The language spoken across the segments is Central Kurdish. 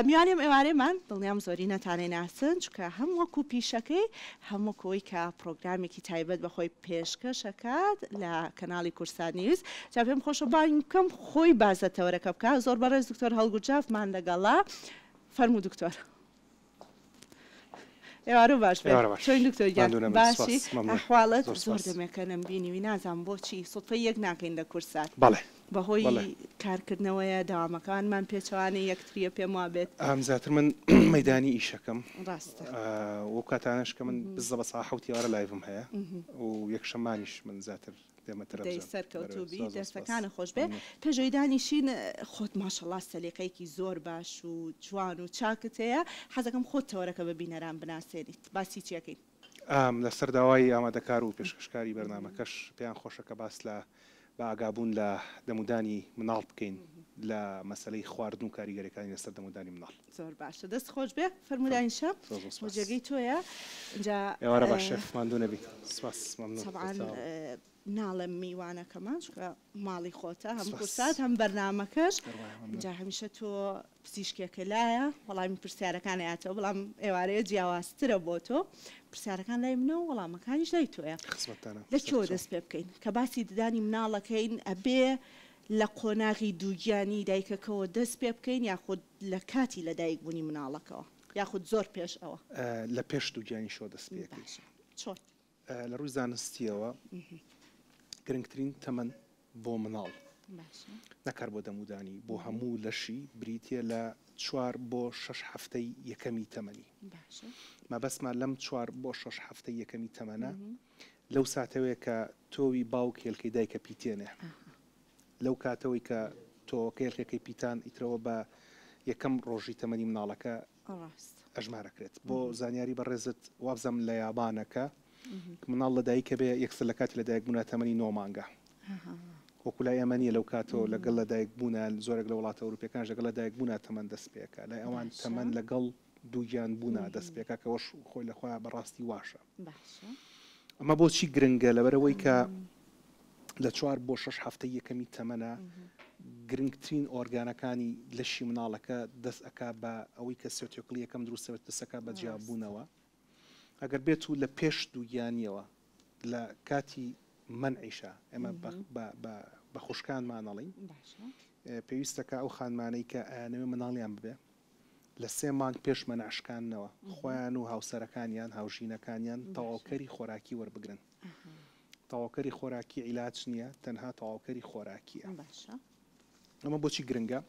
میوانی ئەم ئێوارەیەمان دڵنیام زۆرینەتان ئەیناسن، چونکە هەم وەکو پیشەکەی، هەم وەکو ئەوەی کە پڕۆگرامێکی تایبەت بە خۆی پێشکەش ئەکات لە کەناڵی کورسات نیوز. جا پێم خۆشە بانگی بکەم خۆی باس لە تەوەرەکە بکات. زۆر بەڕێز دکتۆر هەڵگورجافمان لەگەڵە. فەرموو دکتۆر. ئێوارە و باش بێت چۆین دکتۆر گیان؟ ماندوو نەبن سوپاس باشی مەمنون زۆر ئەحواڵت؟ زۆر زۆر سوپاس دەمێکە نەمبینیوی نازانم بۆچی سوتفەی یەک ناکەین لە کورسات بەڵێ بەهۆی بەڵێ کارکردنەوەیە دەوامەکانمان پێچەوانەی یەکتریە پێم وابێت ئەم زیاتر من بەڵێ مەیدانی ئیشەکەم ڕاستە ئا وەو کاتانەش کە من بززە بە سەعە حەوت ئێوارە لایڤم هەیە ئمم ئمم. و یەکشەممانیش من زیاتر دەی سەرکەوتوبی دەستەکانت خۆشبێ پێشەوی دانیشین خۆت ماشەڵا سەلیقەیەکی زۆر باش و جوان و چاکت هەیە حەزەکەم خۆت تەوەرەکە بە بینەران بناسێنیت باسی چیەکەین. ئام، لەسەر داوای ئامادەکار و پێشکەشکاری بەرنامەکەش پێیان خۆشە کە باس لە بە ئاگابوون لە دەمودانی مناڵ بکەین لە مەسەلەی خواردن و کاریگەریەکانی لەسەر دەمودانی مناڵ. زۆر باشە دەست خۆش بێ فەرموو داینشە بۆ جێگەی تۆیە ئینجا ئێوارە باش شێخ ماندوو نەبیت سپاس مەمنون تەبعەن ناڵێم میوانەکەمان چونکە ماڵی خۆتە هەم کورسات هەم بەرنامەکەش جا هەمیشە تۆ پزیشکێکە لایە وەڵامی پرسیارەکان ئەیاتەوە بەڵام ئێوارەیە جیاوازترە بۆ تۆ پرسیارەکان لای منە و وەڵامەکانیش لای تۆیە لە چۆ دەست پێ بکەین کە باسی ددانی مناڵەکەین ئەبێ لە قۆناغی دووگیانی دایکەکەوە دەست پێ بکەین یاخود لە کاتی لە دایک بونی مناڵەکەوە یاخود زۆر پێش ئەوە؟ لە پێش دووگیانی شۆ دەست پێ ئەکەی. باشە چۆن؟ لە ڕووی زانستیەوە گرنگترین تەمەن بۆ مناڵ باشە. نەک هەر بۆ دەمودانی بۆ هەموو لەشی بریتیە لە چوار بۆ شەش هەفتەی یەکەمی تەمەنی باشە. مەبەستمان لەم چوار بۆ شەش هەفتەی یەکەمی تەمەنە لەو ساتەوەیە کە تۆوی باوک هێلکەی دایکە پیتێنێ ئاها. لەو کاتەوەی کە تۆوەکە یەلکەکەی پیتان ئیترەوە بە یەکەم ڕۆژی تەمەنی مناڵەکە ئەژمارەکرێت بۆ زانیاری بەڕێزت وابزانم لە یابانە کە مناڵ لە دایکە بێ یەکسەر لە کاتی لە دایک بوونا تەمەنی نۆ مانگە وەکو لای ئێمە نیە لەو کاتەوە لەگەڵ لە دایک بوونا زۆرێک لە وڵاتە ئەوروپیەکانش لەگەڵ لە دایک بوونا تەمەن دەست پێکا لای ئەوان تەمەن لەگەڵ دووگیان بوونا دەست پێکا کەوەش خۆی لە خۆیان بەڕاستی واشە. ئەمە بۆچی گرنگە؟ لەبەرئەوەی کە لە چوار بۆ شەش هەفتەی یەکەمی تەمەنە گرنگترین ئۆرگانەکانی لەشی مناڵەکە دەست ئەکا بە ئەوەی کە سێتۆکڵی یەکەم دروستەبێت پسەکە بە جیاببوونەوە ئەگەر بێت و لە پێش دووگیانیەوە لە کاتی منعیشە ئێمە بە خوشکانمانەڵین پێویستەکە ئەو خانمانەی کە ئەیانەوێ مناڵیان ببێ لە سێ مانگ پێش مەنع شکاندنەوە، خۆیان و هاوسەرەکانیان، هاوژینەکانیان، تەواوکەری خۆراکی وەربگرن. تەواوکەری خۆراکی عیلاج نییە، تەنها تەواوکەری خۆراکییە. باشە. ئەمە بۆچی گرنگە؟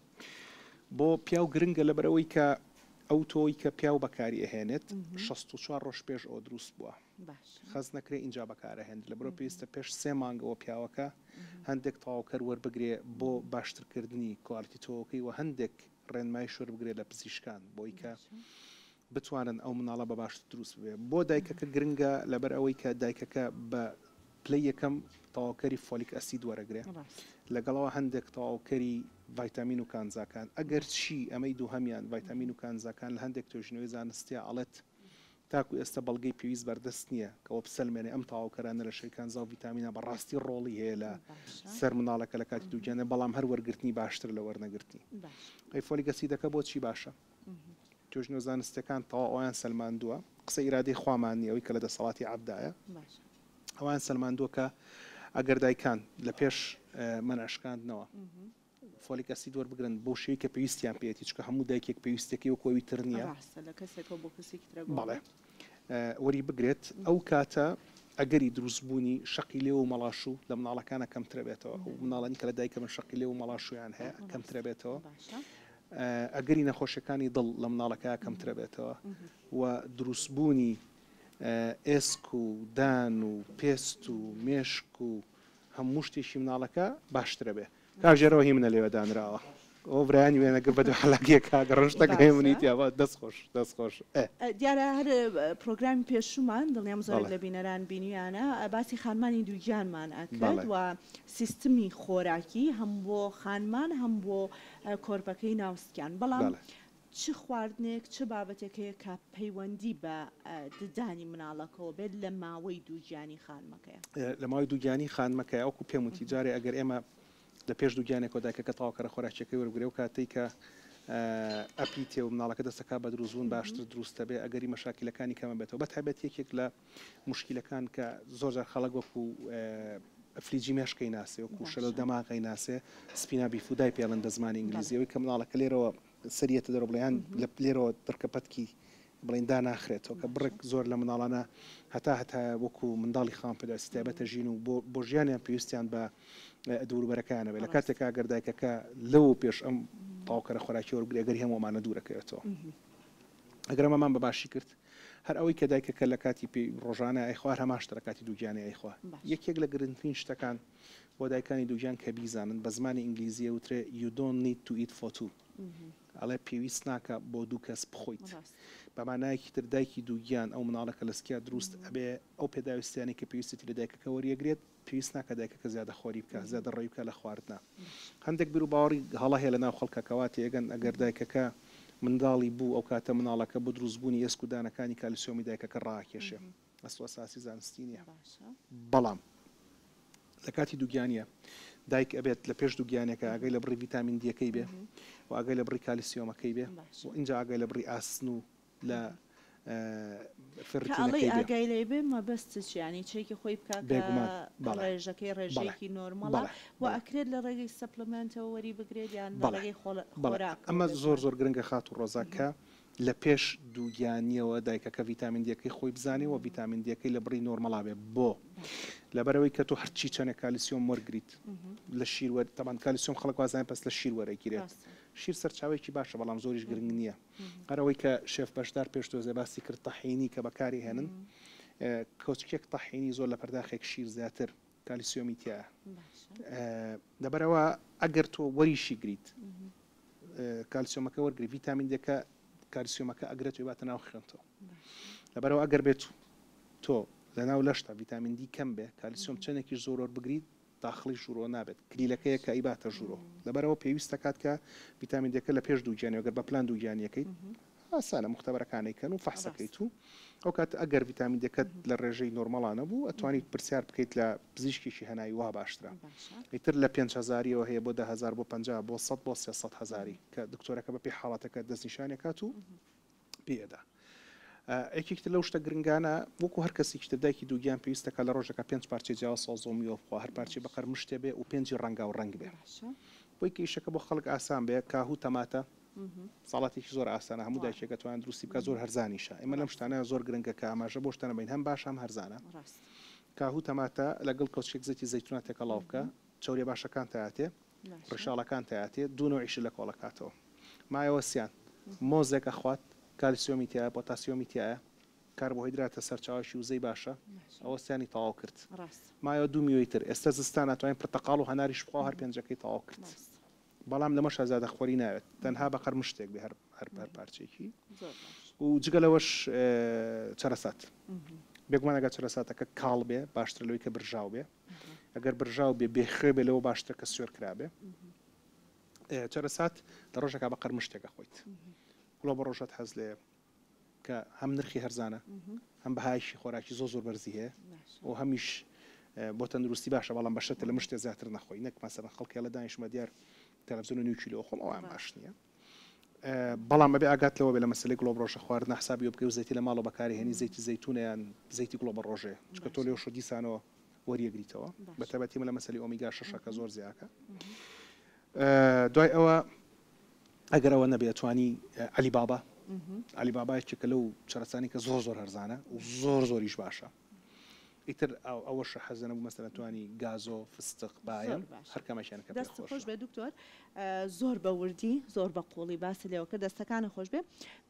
بۆ پیاو گرنگە لەبەرئەوەی کە ئەو تۆوەی کە پیاو بەکاری ئەهێنێت شەست و چوار ڕۆژ پێش ئەوە دروست بووە باشە. خەز نەکرێ ئینجا بەکارەهێنرێ لەبەرەوە پێویستە پێش سێ مانگەوە پیاوەکە هەندێک تەواوکەر وەربگرێ بۆ باشترکردنی کوالیتی تۆوەکەی و هەندێک ڕێنمایی شۆر بگرێت لە پزیشکان بۆی کە بتوانن ئەو مناڵە بە باشتر دروست ببێت بۆ دایکەکە گرنگە لەبەر ئەوەی کە دایکەکە بە پلەی یەکەم تەواوکەری فۆلیک ئەسید وەرەگرێ لەگەڵەوە هەندێک تەواوکەری ڤایتامین و کانزاکان ئەگەر چی ئەمەی دووهەمیان ڤایتامین و کانزاکان لە هەندێک توێژینەوەی زانستیا ئەڵێت تاکو ئێستا بەڵگەی پێویست بەردەست نییە کە ئەوە بسەلمێنێ ئەم تەواوکەرە نەرە شێرکانزا و ڤیتامینە بە ڕاستی ڕۆڵی هەیە لە سەر منداڵەکە لە کاتی دووگیاندا، بەڵام هەر وەرگرتنی باشترە لە وەرنەگرتنی. ئەی فۆلیک ئەسیدەکە بۆ چی باشە؟ توێژینەوە زانستییەکان تەواو ئەوەیان سەلماندووە، قسەی ئیرادەی خوامان نییە ئەوەی کە لە دەسەڵاتی عەبدایە، ئەوەیان سەلماندووە کە ئەگەر دایکان لە پێش مەنع شکاندنەوە، فۆلیک ئەسید وەربگرن بەو شێوەی کە پێویستیان پێیەتی چکە هەموو دایکێک پێویستەکەی وەک ئەوی تر نییە بەڵێ وەری بگرێت ئەو کاتە ئەگەری دروستبوونی شقی لێ و مەڵاش و لە مناڵەکانە کەمترە بێتەوە ئەو مناڵانی کە لە دایکە من شقی لێ و مەڵاشویان هەیە کەمترە بێتەوە ئەگەری نەخۆشیەکانی دڵ لە مناڵەکە کەمترە بێتەوە و دروستبوونی ئێسک و دان و پێست و مێشک و هەموو شتێکی مناڵەکە باشترە بێ. کاک ژێرەوە هی منە لێوە دانراوە ئەوە برایانی وێنە گر بەدوو حەلاکێ کاک ڕەش تەک هەیە منی تیا با دەست خۆش دەست خۆش ئە. دیارە هەر پرۆگرامی پێشوومان دڵنیام زۆرێک لە بینەران بینیویانە باسی خانمانی دووگیانمان ئەکرد و سیستمی خۆراکی هەم بۆ خانمان هەم بۆ کۆرپەکەی ناوسکیان بەڵام چ خواردنێک، چ بابەتێک هەیە کە پەیوەندی بە ددانی مناڵەکەوە بێت لە ماوەی دووگیانی خانمەکەیا؟ لە ماوەی دووگیانی خانمەکەیا، وەکو پێم وتی جارێ ئەگەر ئێمە لە پێش دووگیانێکەوە دایکەکە تەواوکەرە خۆراکیەکەی وەربگرێ و کاتەی کە ئەپیتێ و مناڵەکە دەستەکات بە دروستبوون باشتر دروست دەبێ ئەگەری مەشاکیلەکانی کەمە بێتەوە بە تایبەت یەکێک لە موشکیلەکان کە زۆر جار خەڵک وەکو ئەفلیجی مێشکەی ناسێ وەکو شەلۆ دەماغەی ناسێ سپینا بیفودای پێڵن بە زمانی ئینگلیزیەوەی کە مناڵەکە لێرەوە سەریەتە دەرەوە بڵێ یان لە لێرەوە پرکە پەتکی بڵێن داناخرێتەوە کە بڕێک زۆر لە مناڵانە هەتا هەتا وەکو منداڵی خاوەن پێداویستی تایبەتە ژین و بۆ بۆ ژیانیان پێویستیان بە دووروبەرەکانە بێ لە کاتێکا ئەگەر دایکەکە لەوە پێش ئەم تاوکەرە خۆراکی وەرگری ئەگەری هەموو ئەمانە دوورەکەوێتەوە ئەگەر ئەمەمان بە باشی کرد هەر ئەوەی کە دایکەکە لە کاتی پێی ڕۆژانە ئەیخوا هەر هەمان شتە لە کاتی دووگیانی ئەیخوا یەکێک لە گرنگترین شتەکان بۆ دایکانی دووگیان کە بیزانن، بە زمانی ئینگلیزی ئەوترێ You don't need to eat for two ئەڵێ پێویست ناکا بۆ دوو کەس بخۆیت. بە مانایەکی تر دایکی دووگیان ئەو منداڵە کە لە سکیا دروست ئەبێ ئەو پێداویستیانەی کە پێویستێتی لە دایکەکە وەریەگرێت، پێویست ناکا دایکەکە زیادەخۆری بکا، زیادەڕەوی بکا لە خواردنا. هەندێک بیروباوەڕی هەڵە هەیە لە ناو خەڵکا کە وا تێگەن ئەگەر دایکەکە منداڵی بوو ئەو کاتە منداڵەکە بۆ دروستبوونی ئێسک و دانەکانی کالیسیۆمی دایکەکە ڕائەکێشێ. ئەسوەساسی زانستی نیە بەڵام لە کاتی دووگیانیە دایک ئەبێت لە پێش دووگیانەکە ئەگەی لە بڕی ڤیتامین دیەکەی بێ و ئەگەی لە بڕی کالیسیۆمەکەی بێ و اینجا ئەگەی لە بڕی ئاسن و لە فڕی ئاگای لێ بێ مەبەست چیانی چێکی خۆی بکە بێگومان ڕێژەکەی ڕێژێکی نۆرمەڵە و ئەکرێت لە ڕێگەی سەپلمنتەوە وەری بگرێت یان بەڵێ خۆڵ بەڵێ ئەمە زۆر زۆر گرنگە خات و ڕۆزاکە لە پێش دووگیانیەوە دایکەکە ڤیتامین دیەکەی خۆی بزانێ وە ڤیتامین دیەکەی لە بڕی نۆرمەڵا بێ بۆ لەبەرەوەی کە تۆ هەرچی چەنێ کالیسیۆم وەرگیت لە شیر وەر تەبان کالیسیۆم خەڵک وازانە پس لە شیر وەرەگیرێت شیر سەرچاوێکی باشە بەڵام زۆریش گرنگ نییە هەرەوەی کە شێف بەشدار پێش تۆزێ باسی کرد تەحینی کە بەکاری هێنن کۆچکێک تەحینی زۆر لە پەرداخێک شیر زیاتر کالیسیۆمی تیایە لەبەرئەوە ئەگەر تۆ وەریشی گریت کالیسیۆمەکە وەرگری ڤیتامین دەکە کالیسیۆمەکە ئەگرێت وێباتە ناو خوێنتەوە لەبەرەوە ئەگەر بێت تۆ لەناو لەشتا ڤیتامین دی کەم بێ کالیسیۆم چەندێکی زۆرۆر بگریت داخڵی ژوورۆ نابێت کلیلەکەیە کە ئیباتە ژوورۆ لەبەرەوە پێویستە کات کە ڤیتامین دەکە لە پێش دووگیانی وەگەر بە پلان دووگیانیەکەیت ئاسانە موختەبەرەکانەی کەن و فەحس ئەکەیت و ئەو کات ئەگەر ڤیتامین دەکەت لە ڕێژەی نۆرماڵا نەبوو ئەتوانیت پرسیار بکەیت لە پزیشکێکی هەناوی وا باشترە ئیتر لە پێنج هەزاریەوە هەیە بۆ دە هەزار بۆ پەنجا بۆ سەد بۆ سێ سەد هەزاری کە دکتۆرەکە بە پێی حاڵەتەکە دەست نیشانی ئەکات و پێی ئەدا ئەکێکی تر لەو شتە گرنگانە وەکو هەر کەسێکی تر دایکی دووگیان پێویستەکە لە ڕۆژەکە پێنج پارچەی جیاواز سەوزە و میوە بخوا هەر پارچەی بەقەر مشتێ بێ و پێنجی ڕەنگاو ڕەنگ بێ بۆی کە ئیشەکە بۆ خەڵک ئاسان بێ کاهو تەماتە ساڵاتێکی زۆر ئاسانە هەموو دایکێکە توانێت دروستی بکات زۆر هەرزانیشە ئێمە لەم شتانە زۆر گرنگە کە ئاماژە بۆ شتانە بین هەم باشە هەم هەرزانە کاهو تەماتە لەگەڵ کەوچکێک زەیتی زەیتونا تێکەڵاو بکە چەوریە باشەکان تایاتێ ڕیشاڵەکان تایاتێ دوو نەوعیشی لە کۆڵە کاتەوە مایەوە سیان مۆزێک ئەخوات کالسیۆمی تایە پۆتاسیۆمی تایە کاربۆهیدراتە سەرچاوەکی وزەی باشە ئەوە سیانی تەواو کرد مایەوە دوو میوەی تر ئێستا زستانە توانین پرتەقاڵ و هەناریش بخوا هەر پێنجەکەی تەواو کرد بەڵام لەمە شازادە خوەری ناوێت تەنها بە قەرمشتێک بێ هەر هەر پارچەیەکی و جگە لەوەش چەرەسات بێگومان ئەگەر چەرەساتەکە کاڵ بێ باشتر لەوەی کە برژاو بێ ئەگەر برژاو بێ بێخوێ بێ لەوە باشترە کە سوێر کرابێ چەرەسات لە ڕۆژەکە بە قەرمشتێکە خۆیت گوڵە بە ڕۆژەت حەز لێ کە هەم نرخی هەرزانە هەم بەهایشی خۆراکی زۆر زۆر بەرزی هەیە و هەمیش بۆ تەندروستی باشە بەڵام بەشە تە لە مشتێ زیاتر نەخۆی نەک مەسەرە خەڵکی لە دانیشمە دیار تەلەڤزیۆن و نیو کیلۆ خۆم ئەوان باش نییە بەڵام بەبێ ئاگات لەوە بێ لە مەسلەی گڵۆ ڕۆژە خواردنە حسابی بکەی و زەیتی لە ماڵەوە بەکاری هێنی زەیتی زەیتونیان زەیتی گڵۆ بە ڕۆژێ چکە تۆ لێو شۆ دیسانەوە وەریەگریتەوە بە تەبەتی من لە مەسلی ئۆمیگا شەشەکە زۆر زیاکە دوای ئەوە ئەگەر ئەوە نەبێ ئەتوانی علی بابا علی بابا یەکێکە لەو چەرەسانی کە زۆر زۆر هەرزانە و زۆر زۆریش باشە ئیتر ئەو ئەوەشە حەزە نەبوو مەسەرە توانی گازۆ فستق باە هەرکەمەشیان کە دەست خۆش بێ دکتۆر زۆر بە وردی زۆر بە قوڵی باسی لێەوە کە دەستەکانە خۆش بێ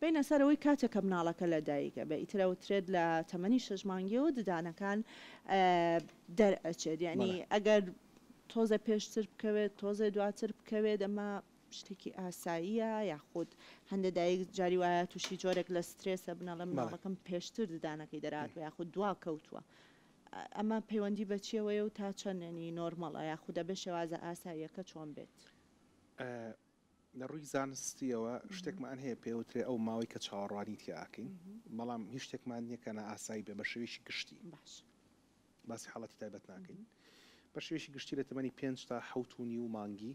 بینە سەرەوەی کاتێکە مناڵەکە لە دایکە بە ئیترەوە ترێت لە تەمەنی شەژمانگیەوە ددانەکان دەرئەچێت یعنی ئەگەر تۆزێ پێشتر بکەوێت تۆزێ دواتر بکەوێت ئەمە شتێکی ئاساییە یاخود هەندێک دایک جاری وایە تووشی جۆرێک لە سترێسە بنەڵە مناڵەکەم پێشتر ددانەکەی دەرات و یاخود دوا کەوتووە ئەمە پەیوەندی بەچیەوەیە و تا چەندێنی نۆرمەڵە یاخودە بە شێوازە ئاساییەکە چۆن بێت لە ڕووی زانستییەوە شتێکمان هەیە پێی وترێ ئەو ماوەی کە چاوەڕوانی تیا ئەکەین، بەڵام هیچ شتێکمان نییە کە نائاسایی بێ بە شێوەیەکی گشتی. باش. باسی حاڵەتی تایبەت ناکەین. بە شێوەیەکی گشتی لە تەمەنی پێنج تا حەوت و نیو مانگی،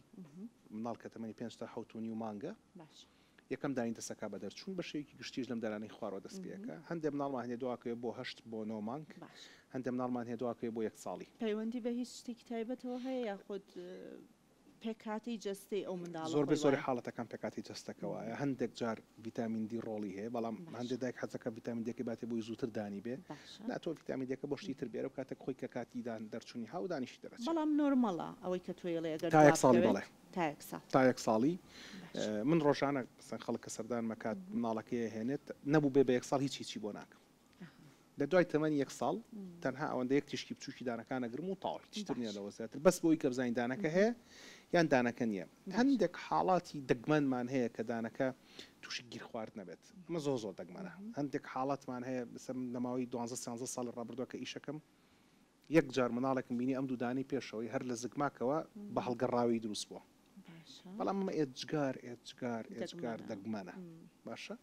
منداڵ کە تەمەنی پێنج تا حەوت و نیو مانگە، باش. یەکەم دانی دەست ئەکا بە دەرچوون، بە شێوەیەکی گشتیش لەم دانانەی خوارەوە دەست پێ ئەکا. هەندێ منداڵمان هەیە دووا کەوێ بۆ هەشت بۆ نۆ مانگ. باش. هەندێ منداڵمان هەیە دووا کەوێ بۆ یەک ساڵی. پەیوەندی بە هیچ شتێکی تایبەتەوە هەیە یاخود پێکهاتەی جەستەی ئەو منداڵە خۆی وایە. زۆربەی زۆری حاڵەتەکان پێکهاتەی جەستەکە وایە، هەندێک جار ڤیتامین دی ڕۆڵی هەیە، بەڵام هەندێک دایک حەز دەکات ڤیتامین دیەکەی باتێ بۆی زووتر دانی بێ، نا تۆ ڤیتامین دیەکە بۆ شتی تر بێرە و کاتێک خۆی کە کاتی دان دەرچوونی ها و دانیشتی دەرەچێ. بەڵام نۆرمەڵە ئەوەی کە تۆ ئێڵێ ئەگەر دوا بکەوێت تا یەک ساڵ. تا یەک ساڵی من ڕۆژانە مەسەن خەڵک کە سەردانم ئەکات منداڵەکەی ئەهێنێت نەبوو بێ بە یەک ساڵ هیچ هیچی بۆ ناکەم. لە دوای تەمەنی یەک ساڵ تەنها ئەوەندە یەک تیشکی بچوکی دانەکان ئەگرم و تەواو هیچ تر نیە لەوە زیاتر بەس بۆ ئەوی کە بزانین دانەکە هەیە یان دانەکە نیە هەندێک حاڵاتی دەگمەنمان هەیە کە دانەکە توشی گیرخوارد نەبێت ئەمە زۆر زۆر دەگمەنە هەندێک حاڵاتمان هەیە بسە من لەماوەی دوانزە سیانزە ساڵی ڕابردوە کە ئیشەکەم یەک جار مناڵێکم بینی ئەم دوو دانەی پێشەوەی هەر لە زگماکەوە بە هەڵگەڕاوی دروست بوە باشە بەڵام ئەمە ئێجگار ئێجگار ئێجگار دەگمەنە دەگمەنە م. باشە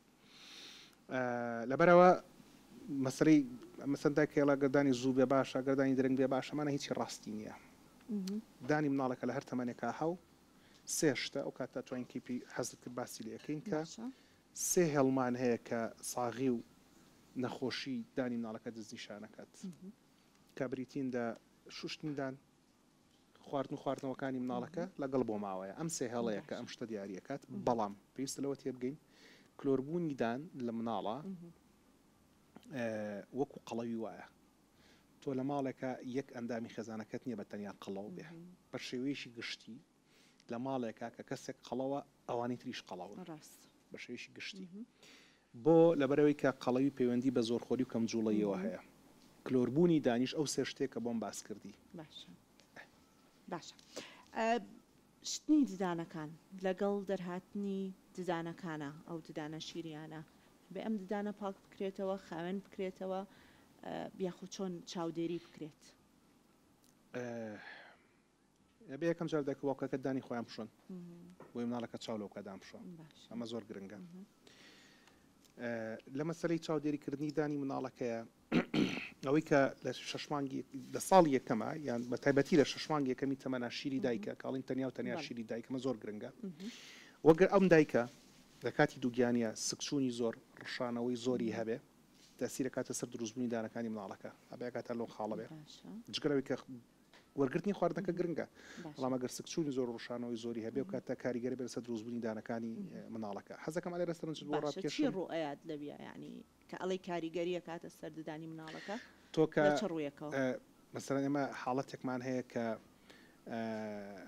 ئا، لەبەرەوە مەسەلەی مەسەن دایکە یەڵا گەر دانی زوو بێ باشە گەر دانی درەنگ بێ باشە مانای هیچی ڕاستی نییە مهم. دانی مناڵێکە لە هەر تەمەنێکا هەو سێ شتە ئەو کاتە توانین کیپی حەزت کرد باسی لێ ئەکەین کە باشە سێ هێڵمان هەیە کە ساغی و نەخۆشی دانی مناڵەکە دەستنیشان ئەکات مهم. کە بریتین لە شوشتندان خواردن و خواردنەوەکانی مناڵەکە لەگەڵ بۆ ماوەیە ئەم سێ هێڵەیە کە ئەم شتە دیاری ئەکات بەڵام پێویستە لەوە تێبگەین کلۆربوونی دان لە مناڵە وەکو قەڵەوی وایە تۆ لە ماڵێکە یەک ئەندامی خێزانەکەت نییە بە تەنیا قەڵەو بێ بە شێوەیەشی گشتی لە ماڵێکە کە کەسێک قەڵەوە ئەوانی تریش قەڵەوە ڕاست بە شێوەیەشی گشتی. بۆ؟ لەبەرئەوەی کە قەڵەوی پەیوەندی بە زۆرخۆری و کەم جوڵەییەوە هەیە. کلۆربوونی دانیش ئەو سێ شتەیە کە بۆم باس کردی. باشە. باشە. شتنی ددانەکان لەگەڵ دەرهاتنی ددانەکانە، ئەو ددانە شیریانە، ئەبێ ئەم ددانە پاک بکرێتەوە، خاوێن بکرێتەوە یاخود چۆن چاودێری بکرێت؟ ئەبێ یەکەم جار دایک و باوکەکەت دانی خۆیان بشۆن بۆی مناڵەکە چاو لەو کەدان بشۆ ئەمە زۆر گرنگە لە مەسلەی چاودێریکردنی دانی مناڵەکەیە ئەوەی کە لە شەشمانگی لە ساڵ یەکەمە یان بە تایبەتی لە شەشمانگ یەکەمی تەمەنا شیری دایکە کاڵین تەنیا و تەنیا شیری دایکمە زۆر گرنگە وەگەر ئەم دایکە لە کاتی دووگیانە سکچوونی زۆر ڕشانەوەی زۆری هەبێ تاسیرەکاتە سەر دروستبوونی دانەکانی مناڵەکە ئەبێکاتە لۆ خاڵەبێ جگەرەوەی کە وەرگرتنی خواردنەکە گرنگە، بەڵام ئەگەر سکچوونی زۆر و ڕشانەوەی زۆری هەبێ و کاتە کاریگەر بێت لەسەر دروست بوونی دانەکانی مناڵەکە. حەزەکەم ئەلێ ڕێستەرنچت بۆ ڕابکێشم. باشە چی ڕوو ئەیات لەویا یانی کە ئەڵێی کاریگەری ئەکاتە سەر ددانی مناڵەکە لە چ ڕوویەکەوە؟ تۆ کە مەسەلەن ئێمە حاڵەتێکمان هەیە کە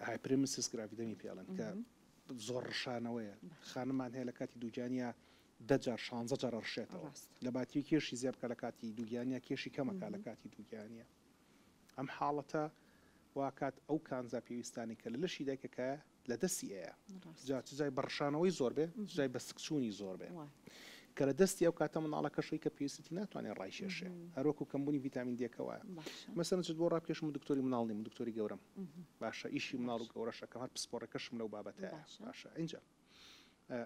هایپرێمسیس گراڤیدەمی پێ ئەڵێن کە زۆر ڕشانەوەیە خانممان هەیە لە کاتی دووگیانیا دە جار شانزە جار ئەڕشێتەوە لە باتری کێشی زیاد بکات لە کاتی دووگیانیا کێشی کەم ئەکات لە کاتی دووگیانیا. ئەم حاڵەتە واکات ئەو کانزا پێویستانەی کە لە لەشی دایکەکایە لە دەستی ئەیا جا چ جای بە ڕشانەوەی زۆر بێ چ جای بە سک چوونی زۆر بێ کە لە دەستی ئەو کاتە منداڵەکەشەی کە پێویستێتی ناتوانێ ڕایکێشێ هەر وەکوو کەمبوونی ڤیتامین دێکە وایە مەسەلەن چت بۆ ڕاکێشم و دکتۆری منداڵ نیم و دکتۆری گەورەم باشە ئیشی منداڵ و گەورەش ئەکەم هەر پسپۆڕێکەشم لەو بابەتەیە باشە ئینجا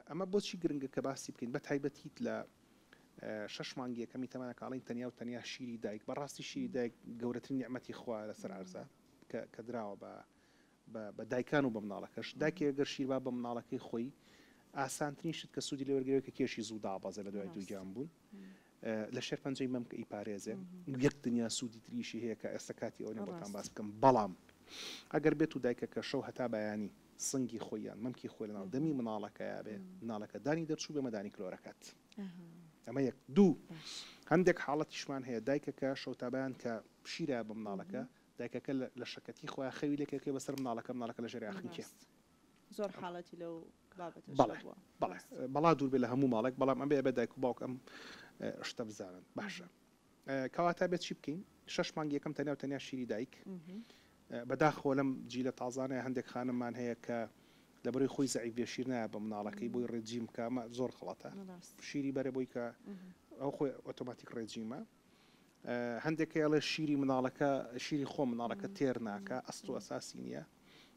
ئەمە بۆچی گرنگە کە باسی بکەین بە تایبەتیت لە شەش مانگی یەکەمی تەمەنە کاڵین تەنیا و تەنیا شیری دایک بەڕاستی شیری دایک گەورەترین نیعممەتی خوا لەسەر عرزە کە دراوە بە بە دایکان و بە مناڵەکەش داکێ گەر شیربا بە مناڵەکەی خۆی ئاسانترین شت کە سوودی لێوەرگەوێت کە کێشی زوو دابەزێ لە دوای دووگیان بوون لە شێرپەنجەی مەمک ئەیپارێزێ و یەک دنیا سوودی تریشی هەیە کە ئێستا کاتی ئەوە نیە بۆتان باس بکەم بەڵام ئەگەر بێتو دایکەکە شەو هەتا بەیانی سنگی خۆی یان مەمکی خۆی لەناو دەمی مناڵەکەیا بێ مناڵەکە دانی دەرچوو بێ مەدانی کلۆرەکەت ئەمە یەک دوو هەندێک حاڵەتیشمان هەیە دایکەکە شەو تا بەیان کە شیرە بە مناڵەکە دایکەکە لە شەکەتی خۆیان خەوی لێکێکێ بەسەر مناڵەکە مناڵەکە لە ژێر یاخنکێ زۆر حاڵەتی لەو بابەتەش بەڵێ هەبووە بەڵێ ڕاستە. بەڵا دوور بێ لە هەموو ماڵێک بەڵام ئەبێ ئەبێ دایک و باوک ئەم شتە بزانن باشە کەواتە ئەبێ چی بکەین شەش مانگ یەکەم تەنیا و تەنیا شیری دایک بە داخەوە لەم جیلە تازانەیە هەندێک خانممان هەیە کە لەبەرەی خۆی زەعیف بێ شیر نایە بە مناڵەکەی بۆی ڕێجیم بکا ئەمە زۆر غەڵەتە ڕاست شیری بەرە بۆی کە ئەو خۆی ئۆتۆماتیک ڕێجیمە. هەندێک کەی ئەڵێ شیری مناڵەکە شیری خۆ مناڵەکە تێر ناکە ئەست و ئەساسی نییە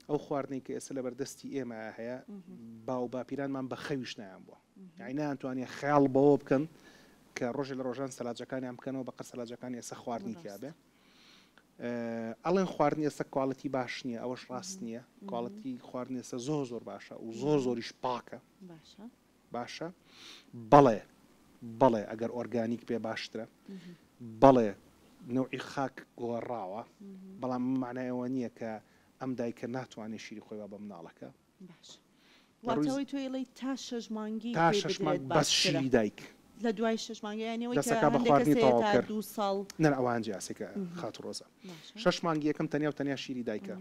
ئەو خواردنەی کە ئێستا لەبەردەستی ئێمە هەیە باو باپیرانمان بە خەویش نایان بووە عینیان توانێ خەیاڵ بەوە بکەن کە ڕۆژێ لە ڕۆژان سەلاجەکانیان بکەنەوە بە قەرسەلاجەکان ئێستا خواردنی تیاابێ ئەڵێن خواردن ئێستا کوالەتی باش نییە ئەوەش ڕاست نییە کوالەتی خواردن ئێستا زۆر زۆر باشە و زۆر زۆریش پاکە باشە بەڵێ بەڵێ ئەگەر ئۆرگانیک بێ باشترە بەڵێ نەوعی خاک گۆڕاوە بەڵام معنایەوە نییە کە ئەم دایکە ناتوانێت شیری خۆی بە مناڵەکە واتەوەی توێڵی تا شش مانگی تا شش مانگ بەس شیری دایک لە دوای شش مانگیانەوەی دەسەکە بە خواردنی تەواوکە دو ساڵ نەر ئەوان جیاسەکە خاتو ڕۆزە شش مانگی یەکەم تەنیا و تەنیا شیری دایکە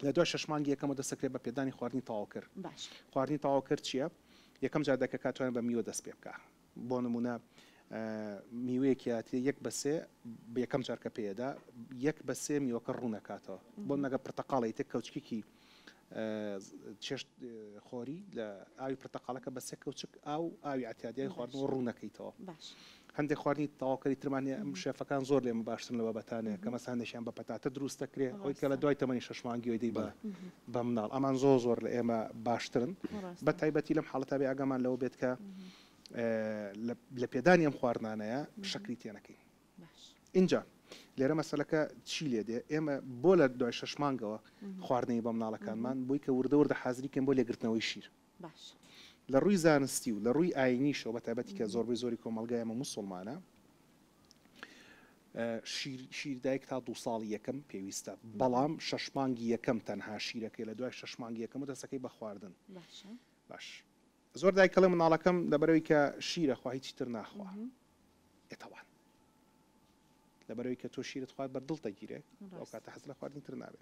لە دوای شەش مانگی یەکەمەوە دەست ئەکرێت بە پێدانی خواردنی تەواوکەر. باشە. خواردنی تەواوکەر چییە؟ یەکەم جار دەکەکە توانێت بە میوە دەست پێ بکا. بۆ نموونە میوەیەکی ئەتێ یەک بە سێ بە یەکەم جار کە پێی ئەدا یەک بە سێ میوەکە ڕوون ئەکاتەوە. بۆ نموونە گەر پرتەقاڵ ئەیتێ کەوچکێکی چێشت خۆری لە ئاوی پرتەقاڵەکە بە سێ کەوچک ئاو ئاوی ئەتێ ئەدی ئاوی خواردنەوە ڕوون ئەکەیتەوە. باشە. هەندێک خواردنی تەواوکەری ترمان هەیە ئەم شێفەکان زۆر لێمە باشترن لە بابەتانێ کە مەسەن هەندێکیان بە پەتاتە دروست دەکرێ ئەوەی کە لە دوای تەمەنی شەش مانگیەوە دەی بە بە مناڵ ئەمان زۆر زۆر لە ئێمە باشترن بە تایبەتی لەم حاڵەتە بێ ئاگامان لەوە بێت کە لە پێدانی ئەم خواردنانەیە شەکری تێ نەکەین ئینجا لێرە مەسەلەکە چی لێ دێ ئێمە بۆ لە دوای شەش مانگەوە خواردنەی بە مناڵەکانمان بۆی کە وردە وردە حازریکەن بۆ لێگرتنەوەی شیر باش. لە ڕووی زانستی و لە ڕووی ئاینیشەوە بە تایبەتی کە زۆربەی زۆری کۆمەڵگای ئێمە موسوڵمانە شیر شیر دایک تا دوو ساڵی یەکەم پێویستە بەڵام شەش مانگی یەکەم تەنها شیرەکەی لە دوای شەش مانگی یەکەم و دەسەکەی بە خواردن باش زۆر دایکەڵێ مناڵەکەم لەبەرەوەی کە شیرە خوا هیچی تر ناخوا ئێتەوان لەبەرەوەی کە تۆ شیرت خوارد بەر دڵت دەگیرێ ئەو کاتە حەز لە خواردنی تر نابێ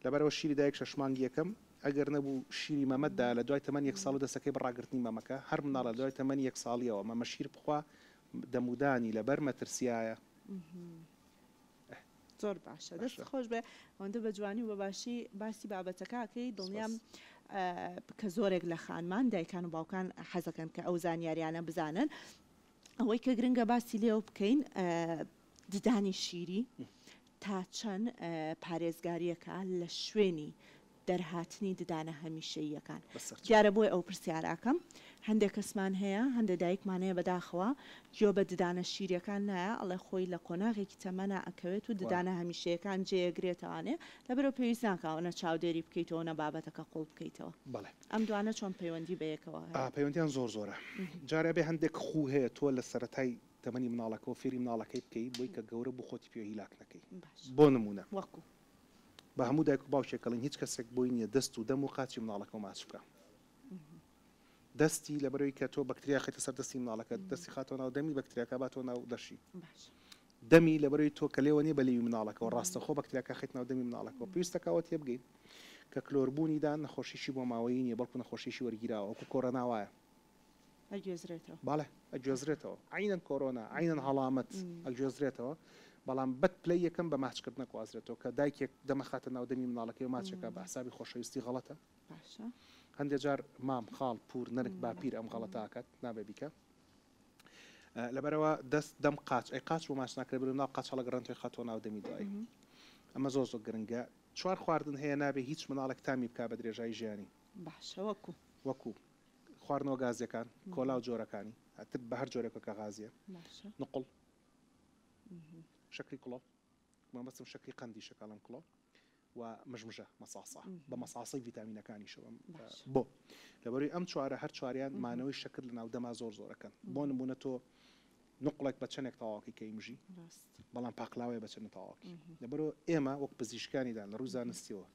لەبەرەوە شیری دایک شەش مانگی یەکەم ئەگەر نەبوو شیری مەمەت دا لە دوای تەمەن یەک ساڵ و دەسەکەی بە ڕاگرتنی مەمەکە هەر مناڵە لە دوای تەمەنی یەک ساڵیەوە مەمە شیر بخوا دەمودانی لەبەر مەترسیایە زۆر باشە دەست خۆش بێ ئەوەندە بە جوانی و بەباشی باسی بابەتەکەکەی دڵنیام کە زۆرێک لە خانمان دایکان و باوکان حەزەکەن کە ئەو زانیاریانە بزانن ئەوەی کە گرنگە باسی لێوە بکەین ددانی شیری تا چەند پارێزگاریەکە لە شوێنی دەرهاتنی ددانە هەمیشەییەکان دیارە بۆی ئەو پرسیاراکەم هەندێک کەسمان هەیە هەندێک دایکمانەیە بەداخەوە گوێ بە ددانە شیریەکان نایە ئەڵێ خۆی لە قۆناغێکی تەمەنا ئەکەوێت و ددانە هەمیشەیەکان جێگرێتوانێ لەبەرەوە پێویست ناکەوە نە چاودێری بکەیتەوە نە بابەتەکە قوڵ بکەیتەوە بڵێ ئەم دوانە چۆن پەیوەندی بەیەکەوە هەیە؟ پەیوەندیان زۆر زۆرە جارێ ئەبێ هەندێک خوو هەیە تۆ لە سەرەتای تەمەنی مناڵەکەوە فێری مناڵەکەی بکەی بۆی کە گەورە بوو خۆتی پێ هیلاک نەکەی باش بۆ نموونە وەکو؟ بە هەموو دایک و باوکێک ئەڵێن هیچ کەسێک بۆی نییە دەست و دەم و قاچی مناڵەکەو ماچ بکا دەستی لەبەرئەوەی کە تۆ بەکتریا خەیتە سەر دەستی مناڵەکەت دەستی خاتەوە ناو دەمی بەکتریاکە باتەوە ناو لەشی باش. دەمی لەبەرەوی تۆ کە لێوە نیە بە لێوی مناڵەکەوە ڕاستەخۆ بەکتریاکە ئەخەیتە ناو دەمی مناڵەکەوە پێویستەکە ئەوە تێبگەین کە کلۆر بوونیدا نەخۆشیی بۆ ماوەیی نیە بەڵکو نەخۆشیی وەرگیراوە وەکو کۆرۆنا وایە ئەگوێزرێتەوە. بەڵێ ئەگوێزرێتەوە عەینەن کۆرۆنا عەینەن هەڵامەت ئەگوێزرێتەوە بەڵام بەد پلەی یەکەم بە ماچ کردن ئەگوازرێتەوە کە دایکێک دەم ئەخاتە ناو دەمی مناڵەکەی و ماچ ئەکا بە حسابی خۆشەویستی غەڵەتە هەندێ جار مام خاڵ پوور نەنک باپیر ئەم غەڵەتە ئەکات نابێ بیکا. لەبەرەوە دەست دەم قاچ ئەی قاچ بۆ ماچ ناکرێت برو ناو قاچ هەڵگەڕن توێ خاتۆ ناو دەمی دوایی ئەمە زۆر زۆر گرنگە چوار خواردن هەیە نابێ هیچ مناڵێک تامی بک بە درێژایی ژیانی باشە وەکو وەکو خواردنەوە گازیەکان کۆلا و جۆرەکانی ئەتر بە هەر جۆرێکە کە غازیە نقل شکری کڵۆ مامەسم شکری قندی شکڵم کڵۆ و مژمژە مەساسە بە مەساسەی ڤیتامینەکانیشەوە بۆ لەبەروی ئەم چوارە هەر چواریان مانەوەی شەکر لەناو دەما زۆر زۆرەکەن بۆ نمونە تۆ نقڵێک بە چەندێک تەواوەکەی کەی مژی بەڵام پاقلاوەیە بە چەند تەواوکی لەبەرۆ ئێمە وەک پزیشکانیدان لە ڕووی زانستیەوە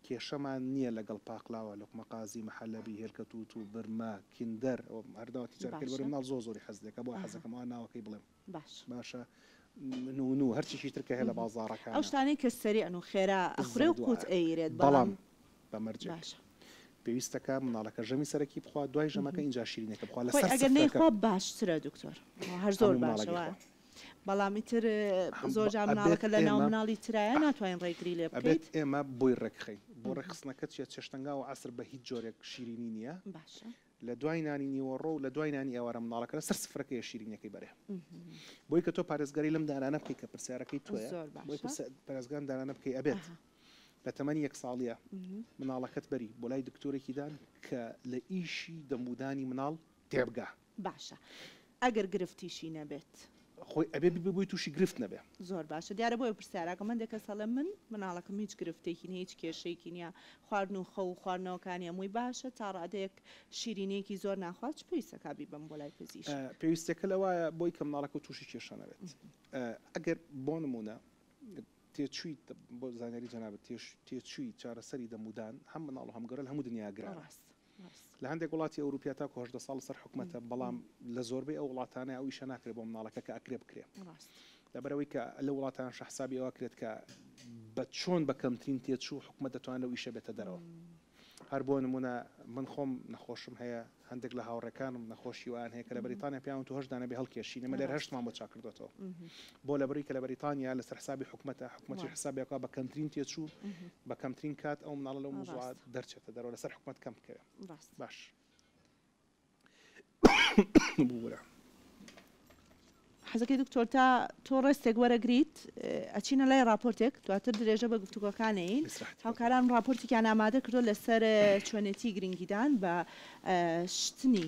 کێشەمان نییە لەگەڵ پاقلاوە لقمە قازی محەلەبی هێلکە تووت و برمە کیندەر هەرداوەتی جارکرد بەرە مناڵ زۆر زۆری حەز دەکە بۆ حەزەکەم ئەوە ناوەکەی بڵێم باش. باشە نوو نوو هەرچیشی تر کە هەیە لە بازاڕەکانە. ئەو شتانەی کە سەریعن و خێرا ئەخورێ و قووت ئەیرێت بەڵام. بە مەرجێک. باشە. پێویستە کە منداڵەکە ژەمی سەرەکی بخوات دوای ژەمەکە ئینجا شیرینیەکە بخوات لەسەر سفرەکە. خۆی ئەگەر نەیخوا باشترە دکتۆر. هەر زۆر باشە وایە. بەڵام ئیتر زۆر جار منداڵەکە لە ناو منداڵی ترایە ناتوانین ڕێگری لێ بکەین. ئەبێت ئێمە بۆی ڕێکخەین. بۆ ڕێکخستنەکە چیە چێشتەنگا و عەسر بە هیچ جۆرێک شیرینی نیە. باشە. لە دوای نانی نیوەڕۆ و لە دوای نانی ئێوارە منداڵەکە لە سەر سفرەکەیە شیرینیەکەی بەرێ بۆی کە تۆ پارێزگاری لەم دانانە بکەی کە پرسیارەکەی تۆیە بۆی پرسیارەکان دانانە بکەی ئەبێت لە تەمەنی یەک ساڵیە مناڵەکەت بەری بۆ لای دکتۆرێکی دان کە لە ئیشی دەمودانی مناڵ تێبگا باشە ئەگەر گرفتیشی نەبێت. خۆی ئەبێ ببێ بۆی توشی گرفت نەبێ. زۆر باشە دیارە بۆیە پرسیاراکەم هەندێک کەس ئەڵێ من مناڵەکەم هیچ گرفتێکی نیە هیچ کێشەیەکی نیە خواردن و خەو و خواردنەوەکانی هەمووی باشە تا ڕادەیەک شیرینیەکی زۆر ناخوات چ پێویست ئەکا بیبەم بۆ لای پزیشک. پێویستیەکە لەوایە بۆی کە مناڵەکەو توشی کێشە نەبێت ئەگەر بۆ نمونە تێچویت بۆ زانیاری جەنابت تێچوی چارەسەری دەمودان هەم مناڵ و هەم گەورە لە هەموو دنیایا گرانە لە هەندێک وڵاتی ئەوروپیا تاکو هەژدە ساڵ لەسەر حکومەتە بەڵام لە زۆربەی ئەو وڵاتانە ئەو ئیشە ناکرێت بۆ مناڵەکە کە ئەکرێ بکرێ لەبەرەوەی کە لە وڵاتانشە حسابی ئەوە کرێت کە بە چۆن بە کەمترین تێچوو حکومەت دەتوان لەو ئیشە بێتە دەرەوە هەر بۆ نمونە من خۆم نەخۆشم هەیە هەندێک لە هاوڕێکانم نەخۆشی وان هەیە کە لە بەریتانیا پیاون تو هەشت دانە بێ هەڵکێشی نەمە لێر هەشتمان بۆ چاکردوێتەوە بۆ لەبری کە لە بەریتانیا لەسەر حسابی حکومەتە، حکومەت چی حسابێک بکات بە کەمترین تێچوو بە کەمترین کات ئەو مناڵە لەو موزوعە دەرچێتە دەرەوە لەسەر حکومەت کەم بکەوێ باش بورە. حەزەکەی دکتۆر تا تۆ ڕێستێک وەرەگریت ئەچینە لای ڕاپۆرتێک دواتر درێژە بە گفتوگۆکانەین هاوکاران ڕاپۆرتێکیان ئامادە کردو لەسەر چۆنێتی گرنگیدان بە شتنی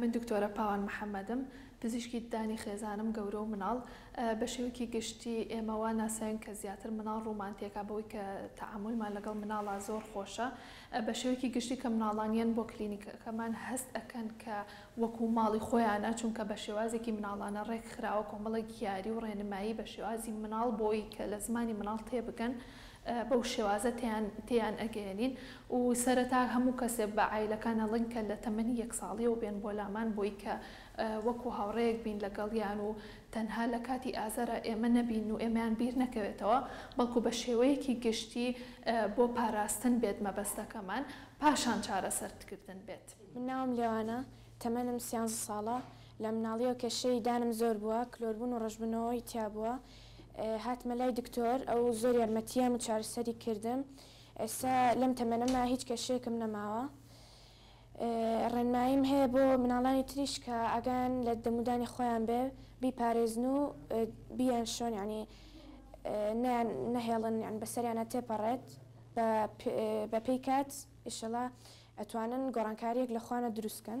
من دکتۆرە پاوان محەمەدم، پزیشکی ددانی خێزانم، گەورە و مناڵ. بە شێوەیەکی گشتی ئێمە وا ناسراوین کە زیاتر مناڵ ڕومانتێکە بەوەی کە تەعامولمان لەگەڵ مناڵە زۆر خۆشە. بە شێوەیەکی گشتی کە مناڵان یەن بۆ کلینیکەکەمان هەست ئەکەن کە وەکوو ماڵی خۆیانە چونکە بە شێوازێکی مناڵانە ڕێک خراوە کۆمەڵێک یاری و ڕێنمایی بە شێوازی مناڵ بۆی کە لە زمانی مناڵ تێ بگەن. بەو شێوازە تێیان تێیان ئەگەیەنین و سەرەتا هەموو کەسێ بە عایلەکان ئەڵێن کە لە تەمەنی یەک ساڵیەوە بێن بۆ لامان بۆی کە وەکو هاوڕێیەک بین لە گەڵیان و تەنها لە کاتی ئازارا ئێمە نەبین و ئێمەیان بیر نەکەوێتەوە بەڵکو بە شێوەیەکی گشتی بۆ پاراستن بێت مەبەستەکەمان پاشان چارەسەر کردن بێت. من ناوم لێوانە تەمەنم سیانزە ساڵە لە مناڵیەوە کێشەی دانم زۆر بووە کلۆربوون و ڕەشبنەوەی تیابووە، هاتمە لای دکتۆر ئەو زۆر یارمەتیام و چارەسەری کردم ئێستا لەم تەمەنەما هیچ کێشەیەکم نەماوە ڕێنماییم هەیە بۆ مناڵانی تریش کە ئاگایان لە دەمودانی خۆیان بێ بیپارێزن و بیان شۆن ینی نیان نەهێڵن یان بەسەریانە تێپەڕێت بە بەپێی کات ئیشەڵا ئەتوانن گۆڕانکاریەک لە خوانە دروستکەن.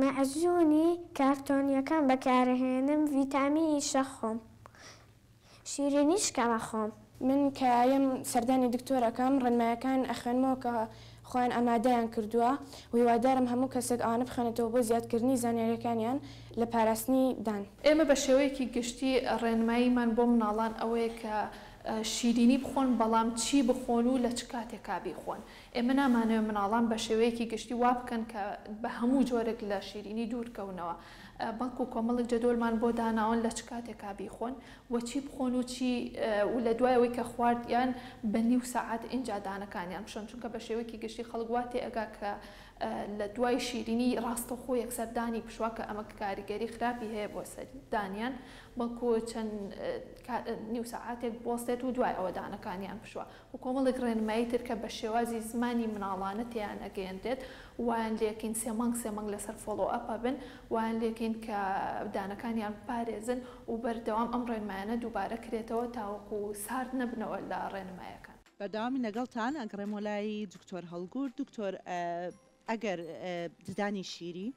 مەعجونی کارتۆنیەکان بەکارەهێنم ڤیتامینی شەخۆم شیرینی شکەم ئەخۆم. من کە یەم سەردانی دکتۆر ئەکەم ڕێنمایەکان ئەخوێنمەوە کە خۆیان ئامادەیان کردووە و هیوادارم هەموو کەسێک ئەوانە بخوێنێتەوە بۆ زیادکردنی زانیاریەکانیان لە پاراستنی دان. ئێمە بە شێوەیەکی گشتی ڕێنماییمان بۆ مناڵان ئەوەیە کە شیرینی بخۆن بەڵام چی بخۆن و لە چ کاتێکا بیخۆن ئێمە نامانەوێت منداڵان بە شێوەیەکی گشتی وا بکەن کە بە هەموو جۆرێک لە شیرینی دوورکەونەوە، بەڵکو کۆمەڵێک جەدۆلمان بۆ داناون لە چ کاتێکا بیخۆن و چی بخۆن و چی و لە دوای ئەوەی کە خواردیان بە نیو سەعات ئینجا دانەکانیان بشۆن، چونکە بە شێوەیەکی گشتی خەڵک وا تێئەگا کە لە دوای شیرینی ڕاستەوخۆ یەکسەر دانی بشوا کە ئەمە کاریگەری خراپی هەیە بۆ سەر دانیان، بەڵکو چەند نیو سەعاتێک بوەستێت و دوای ئەوە دانەکانیان بشوا. و کۆمەڵێک ڕێنمایی تر کە بە شێوازی زمانی مناڵانە تێیان ئەگەیەنرێت وایان لێکەین سێ مانگ سێ مانگ لەسەر فۆڵۆ ئەپ ئەبن وایان لێکەین کە دانەکانیان بپارێزن و بەردەوام ئەم ڕێنمایانە دووبارە کرێتەوە تاوەکو سارد نەبنەوە لە ڕێنمایەکان. بەردەوامی لەگەڵتان ئەگەڕێمەوە لای دکتۆر هەڵگورد دکتۆر ئەگەر ددانی شیری.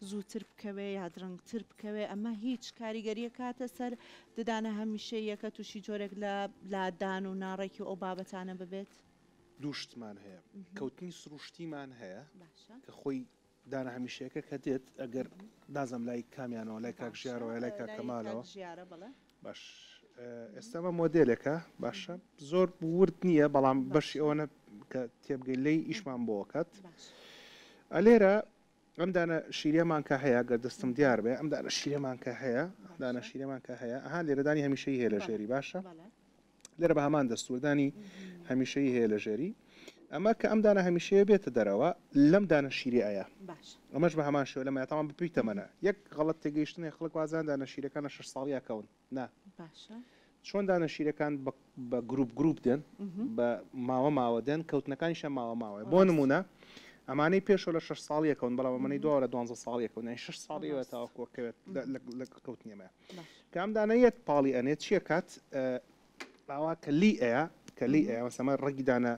زووتر بکەوێ یا درنگتر بکەوێ ئەمە هیچ کاریگەریە کاتە سەر ددانە هەمیشەییەکە تووشی جۆرێک لە لادان و ناڕێکی و ئەو بابەتانە ببێت؟ دوو شتمان هەیە کەوتنی سروشتیمان هەیە کە خۆی دانە هەمیشەیەکە کە دێت ئەگەر نازم لای کامیانەوە لای کاک ژیارەوە لای کاک کەمالەوە ژیارە بڵێ باش ئێستامە مۆدلێکە باشە زۆر ورد نییە بەڵام بەشی ئەوەنە کە تێبگەی لی ئیشمان بۆکات ئەلێرە ئەم دانە شیرەمان کە هەیە گەر دەستم دیار بێ ئەم دانە شیرەمان کە هەیە ئەم دانە شیرەمان کە هەیە ئەها لێرەدانی هەمیشەی هەیە لە ژێری باشە لێرە بە هەمان دەستوردانی هەمیشەی هەیە لە ژێری ئەمە کە ئەم دانە هەمیشەیە بێتە دەرەوە لەم دانە شیری ئایا ئەمەش بە هەمان شێوە لەمە تاوان بپی تەمەە یەک غەڵت تێگەیشتنێ خەڵک وازان دانە شیرەکانە شش ساڵیاکەون نا باشە چۆن دانە شیرەکان بە بە گروپ گروپ دێن بە ماوە ماوە دێن کەوتنەکانیشە ماوە ماوەیە بۆ ڕاست نمونە ئەمانەی پێشەوە لە شەش ساڵ یەکەون بەڵام ئەمەەی دووارە دوانزە ساڵ یەکەون یانی شەش ساڵی ئەوێ ڕاست تاوەکو کەوێت لە لە لە کەوتنی ئەمەیە باش کە ئەم دانە یەت پاڵی ئەنێت چییە کات ئاوا کە لی ئەیا کە لی ئەیا مەسەما ڕەگی دانە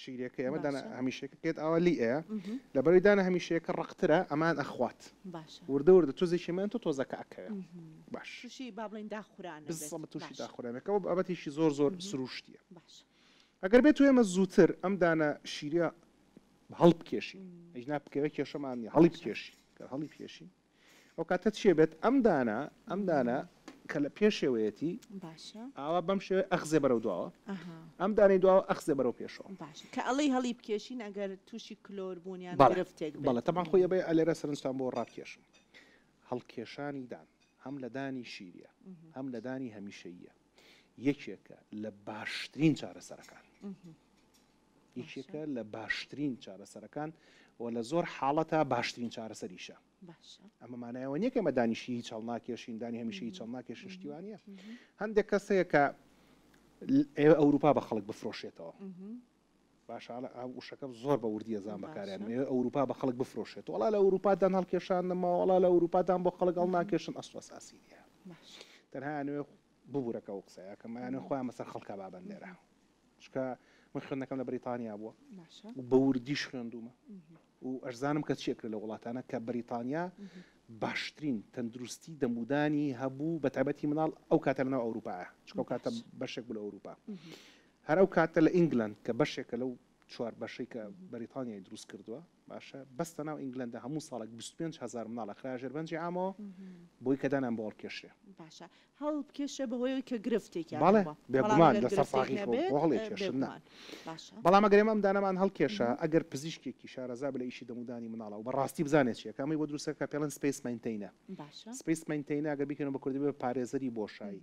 شیرێکە ئێمە دانا هەمیشەکە کێت ئاوا لی ئەیە لەبەری دانا هەمیشەیەکە ڕقترە ئەمان ئەخوات وردە وردە تۆزێکیمان تۆ تۆزەکە ئەکەوێ باششی با بڵین داخوران تووشی داخورانەکە و بابەتیشی زۆر زۆر سروشتیە ئەگەر بێت ئێمە زووتر ئەم دانا شیرە هەڵبکێشی ئەینا بکەوێت کێشەمان هەڵی بکێشی هەڵی پێشین ئەو کاتە چیە بێت ئەم دانە ئەم دانە کە لە پێشێوەیەتی باشە ئاوا بەم شێوەی ئەخزێ بەرەو دواوە ئەها ئەم دانەی دواوە ئەخزێ بەرەو پێشەوە باشە کە ئەڵێی هەڵی بکێشین ئەگەر تووشی کلۆر بوون یان بەڵێ گرفتێک بێت بەڵێ تەبان خۆی ئەبێ ئەلێرە سەرنجتان بۆ ڕابکێشم هەڵکێشانی دان هەم لە دانی شیریە هەم لە دانی هەمیشەییە یەکێکە لە باشترین چارەسەرەکان یەکێکە لە باشترین چارەسەرەکان و لە زۆر حاڵەتا باشترین چارەسەریشە ئەمە مانایەوە نیە کەمە دانیشی هیچ هەڵناکێشین دانی هەمیشە هیچ هەڵناکێشن شتیوانە هەندێک کەس هەیە کە ئێوە ئەوروپا بە خەڵک بفرۆشێتەوە باشانە ئەم وشەکەم زۆر بە وردیە زان بەکاریان ئێوە ئەوروپا بە خەڵک بفرۆشێت وڵا لە ئەوروپادان هەڵکێشان نەماوەڵا لە ئەوروپادان بۆ خەڵک هەڵ ناکێشن ئەسڵ ئەساسی نیە تەنها نوێ ببوورەکە و قسەیەکەمانە خۆیان مەسەر خەڵکە بابەن لێرە چونکە من خوێندنەکەم لە بریتانیا بووە و بە وردیش خوێندوومە و ئەشزانم کە چی ئەکرێت لە وڵاتانە کە بریتانیا باشترین تەندروستی دەمودانی هەبوو بە تایبەتی مناڵ ئەو کاتە لەناو ئەوروپایە چکە و کاتە بەشێک بوو لە ئەوروپا هەر ئەو کاتە لە ئینگلند کە بەشێکە لەو چوار بەشەی کە بەریتانیای دروست کردووە باشە بەس لەناو ئینگلەندا هەموو ساڵێک بیست و پێنج هەزار مناڵ ئەخرایە ژێر بەنجی عامەوە بۆی کە دانیان بۆ هەڵکێشرێ. باشە هەڵبکێشرێ بەهۆی ئەوەی کە گرفتێکیان هەبووە. بەڵێ بێگومان لەسەر ساغی خۆ بۆ هەڵێکێشن نا. باشە. بەڵام ئەگەر ئێمە ئەم دانەمان هەڵکێشا ئەگەر پزیشکێکی شارەزا بێ لە ئیشی دەم و دانی مناڵە و بە ڕاستی بزانێ چییە کە ئەمەی بۆ دروست کە پێڵێن سپەیس مەینتەینە. باشە. سپەیس مەینتەینە ئەگەر بیکەینەوە بە کوردی بێ پارێزەری بۆشایی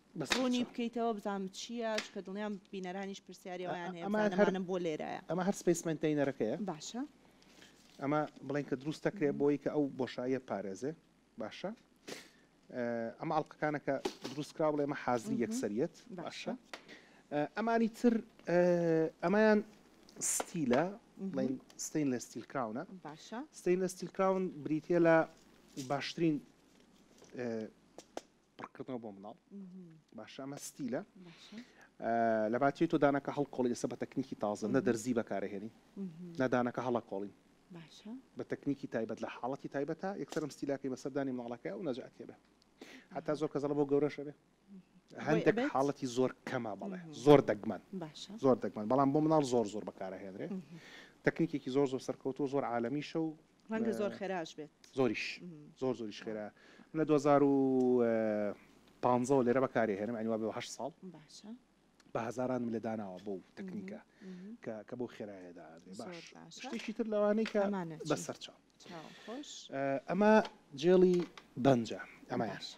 ڕوونی بکەیتەوە بزانم چییە چونکە دڵنیام بینەرانیش پرسیاری ئەوەیان هەیە بزانەمانم بۆ لێرایە. ئەمە هەر سپەیس مەینتەینەرەکەیە. باشە. ئەمە بڵێین کە دروست دەکرێت بۆ ئەوی کە ئەو بۆشاییە بپارێزێ باشە. ئەمە ئەڵلقەکانە کە دروست کرا بڵێ ئەمە حازری یەکسەریەت باشە. ئەمانی تر ئەمەیان ستیلە بڵێین ستین لە ستیل کراونە باشە ستین لە ستیل کراون بریتە لە باشترین پڕکردنەوە بۆ مناڵ باشە ئەمە ستیلە لەباتی تۆ دانەکە هەڵکۆڵی ئێستا بە تەکنیکی تازە نە دەرزی بەکارهێنی نادانەکە هەڵە کۆڵین بە تەکنیکی تایبەت لە حاڵەتی تایبەتە یەکسەرم ستیلاکەی بەسەردانی مناڵەکە و نەجاتێ بێ حتا زۆر کەزەڵە بۆ گەورەشە بێ هەندێک حاڵەتی زۆر کەما بەڵێ زۆر دەگمەن زۆر دەگمەن بەڵام بۆ مناڵ زۆر زۆر بەکارهێنرێ تەکنیکێکی زۆر زۆر سەرکەوتو زۆر عاالمیشە و ڕەنگە زۆر خێراش بێت زۆریش زۆر زۆریش خێرا من لە دوو هەزار و پانزەوە لێرە بەکارێ هێنم ئەنیوا بێ هەشت ساڵ باشە بە هەزارانم لە داناوە بۆ تەکنیکە کە کە بۆ خێرایەدا بێ باش زۆر باشە. شتێکی تر لەوانەی کە ئەمانە چی؟ بە سەرچاو چاو خۆش ئەمە جێڵی بەنجە ئەمە باشە.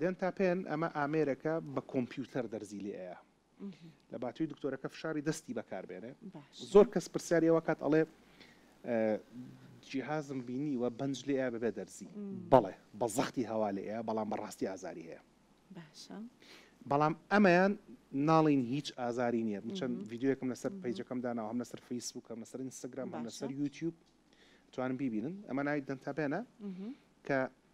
دێنتا پێن ئەمە ئامێرەکە بە کۆمپیوتەر دەرزی لێ ئەیا لە باتوی دکتۆرەکە فشاری دەستی بەکار بێنێ زۆر کەس پرسیاری ئەوە کات ئەڵێ جیهازم بینی وە بەنج لێ بەبێ دەرزی بەڵێ بە زەختی هەوا لێ بەڵام بەڕاستی ئازاری هەیە باشە بەڵام ئەمەیان ناڵین هیچ ئازاری نییە بچەند یددیوەکەم لەسەر پیجەکەم داناوە هەم لەسەر فیسبووکەم لەسەر ئینستاگرام هەم لەسەر یوتیوب توانم بیبینن ئەمە ناوی دەنتابێنە کە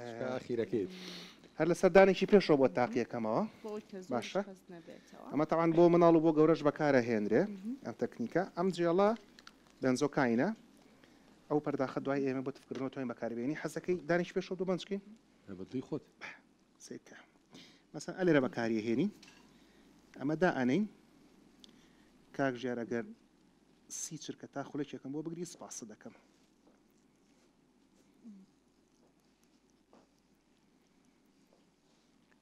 خوشکە ئاخیرەکەیت. هەر لە سەردانێکی پێشەوە بۆ تاقیەکەمەوە باشە ئەمە تاوان بۆ مناڵ و بۆ گەورەش بەکارە هێنرێ ئەم تەکنیکە ئەم جێڵە بنزۆ کاینە ئەو پەرداخە دوای ئێمە بۆ تفکردنەوە توانین بەکاربیێنی حەزەکەی دانیش پێشۆ دوو بنجکەین بەدوی خۆت سێکە مەسەن ئەلێرە بەکاریە هێنی ئەمە دا ئەنین کاک ژێر ئەگەر سی چرکە تا خولێکێکم بۆ بگری سپاس دەکەم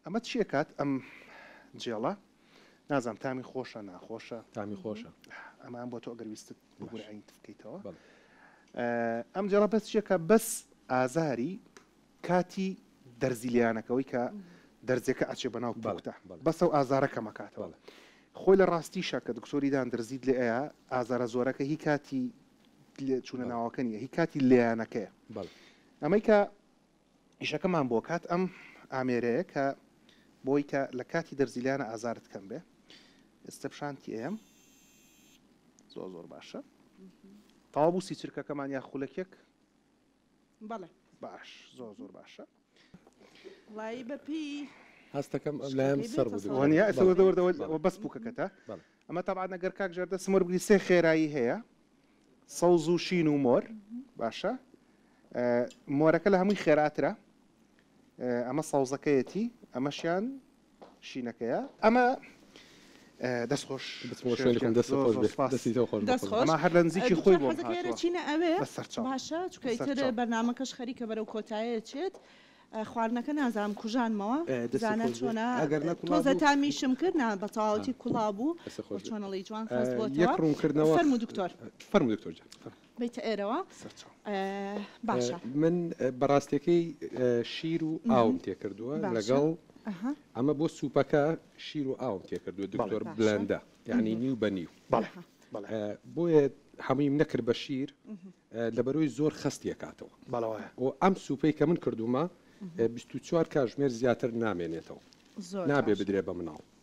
ئەمە چیەکات ئەم جێڵە نازام تامی خۆشە ناخۆشە تامی خۆشە ئەمان بۆ تۆ ئەگەر ویستت بگورعین بکەیتەوە ئەم جێڵە بەس چیەکە بەس ئازاری کاتی دەرزیلیانەکەەوەی کە دەرزەکە ئەچێ بەناو بەڵکتە بەسە و ئازارەکە مەکاتەوە خۆی لە ڕاستی شەکە دکتۆریدان درزیت لێ ئەیە ئازارە زۆرەکە هی کاتی لێ چوونە بەڵێ. ناوەکە نییە هی کاتی لێیانەکەیە بەڵێ. ئەمەی کە ئیشەکەمان بۆ کات ئەم ئامێرەیە کە بۆی کە لە کاتی دەرزیلانە ئازارت کەم بێ ئێستە پیشانتی ئەیەم زۆر زۆر باشە تەوا بوو سی چرکەکەمان یا خولەکێک بەڵێ. باش زۆر زۆر باشە. وایی بە پێی. هەستەکەم ئەم لایەم سەر بوو دکتۆر. وەنیە ئەسە وەردە وەردە وە بەس پوکەکەتە ئەمە تەبعەن ئەگەر کاک ژیار دەسم وەربگری سێ خێرایی هەیە سەوز و شین و مۆر باشە مۆرەکە لە هەمووی خێراترە ئەمە سەوزەکەیەتی ئەمەشیان شینەکەیە ئەمە دەست خۆش بەسەرچوە بەرنمەکەش خەریکە بەرەو کۆتایە چێت خواردنەکە نازام کوژانمەوە دزانە چۆنا ئەگەر نەتۆزە تامیشم کرد نا بەتەواوەتی کوڵا بوو چۆنەڵی جوان ڕوونکردنەوە فەرمو دکتۆر فەرمو دکتۆر بێیتە ئێرەوە باشە من بەڕاستەکەی شیر و ئاوم تێکردووە لەگەڵ ئەمە بۆ سوپەکە شیر و ئاوم تێکردووە دکتۆر بلندە یعنی نیو بە نیو بۆیە هەموویم نەکرد بە شیر لەبەرۆی زۆر خستیەکاتەوە بۆ ئەم سوپەی کە من کردومە 24 کاژمێر زیاتر نامێنێتەوە نابێ بدرێ بە مناڵ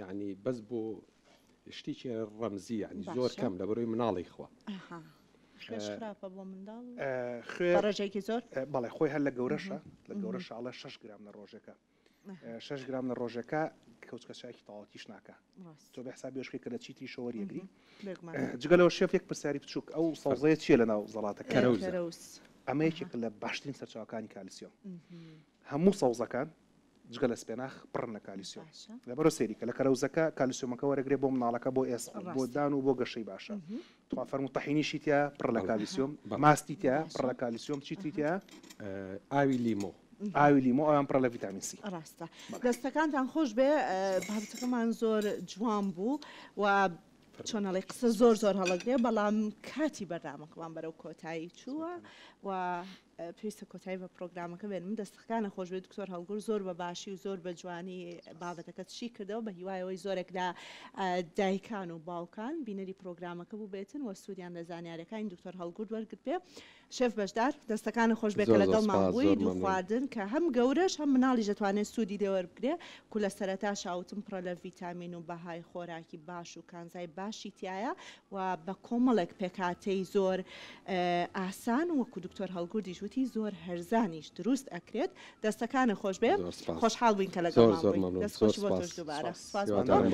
یانی بەس بۆ شتیکی ڕەمزی یانی زۆر کەم لە بەرۆی مناڵی خوا خوێڕژێکی زۆر بەڵێ خۆی هەر لە گەورەشە لە گەورەشاڵە 6 گرام لە ڕۆژەکە 6 گرام لە ڕۆژەکە کەوتکە چاکی تاوەتیش ناکە تۆ بە حساب بێشکە کە لە چیتری شەوە یەگری جگەلەوە شێف یەک پرسیاری بچووک ئەو سەوزەیە چیە لە ناو زەڵاتەکە ئەمەیەکێک لە باشترین سەرچاوەکانی کالسیۆم هەموو سەوزەکان جگە لە سپێناخ پڕن لە کالیسیۆم باشە. لەبەرو سەیری کە لە کەرەوزەکە کالیسیۆمەکە وەرەگرێ بۆ مناڵەکە بۆ ئێسک بۆ ڕاستە. دان و بۆ گەشەی باشە تخوا فەرموو تەحینیشی تیا پڕ لە بەڵێ. کالیسیۆم بەڵێ. ماستی تیا باشە. پڕ لە کالیسیۆم چی تری تیا ئە، ئاوی لیمۆ. ئاوی لیمۆ ئەوان پڕە لە ڤیتامین سی. ڕاستە بەڵێ. دەستەکانتان خۆش بێ بابەتەکەمان زۆر جوان بوو و چۆن ئەڵێی قسە زۆر زۆر هەڵەگرێ بەڵام کاتی بەرنامەکەمان بەرەو کۆتایی چووە و پێویستە کۆتایی بە پڕۆگرامەکە بێنم. دەستەکانت خۆش بێت دکتۆر هەڵگور، زۆر بە باشی و زۆر بە جوانی بابەتەکەت شی کردەوە، بە هیوای ئەوەی زۆرێک لە دایکان و باوکان بینەری پڕۆگرامەکە بووبێتن و سوودیان لە زانیارییەکانی دکتۆر هەڵگورد وەرگرتبێ. شێف بەشدار، دەستەکانت خۆش بێت کە زۆر زۆر لەگەڵمان سپاس، بووی، زۆر دوو مەمنون. خواردن کە هەم گەورەش هەم مناڵیش دەتوانێت سوودی لێ وەربگرێ، کو لە سەرەتاشا وتم پڕە لە ڤیتامین و بەهای خۆراکی باش و کانزای باشی تیایە، و بە کۆمەڵێک پێکهاتەی زۆر ئاسان وەکو دکتۆر هەڵگوردیش وتی زۆر هەرزانیش دروست ئەکرێت دەستەکانت خۆشبێ خۆشحاڵ بووین کە لەگەڵمان بووی دەست خۆشی بۆ تۆش دووبارە سوپاس بۆ تۆ.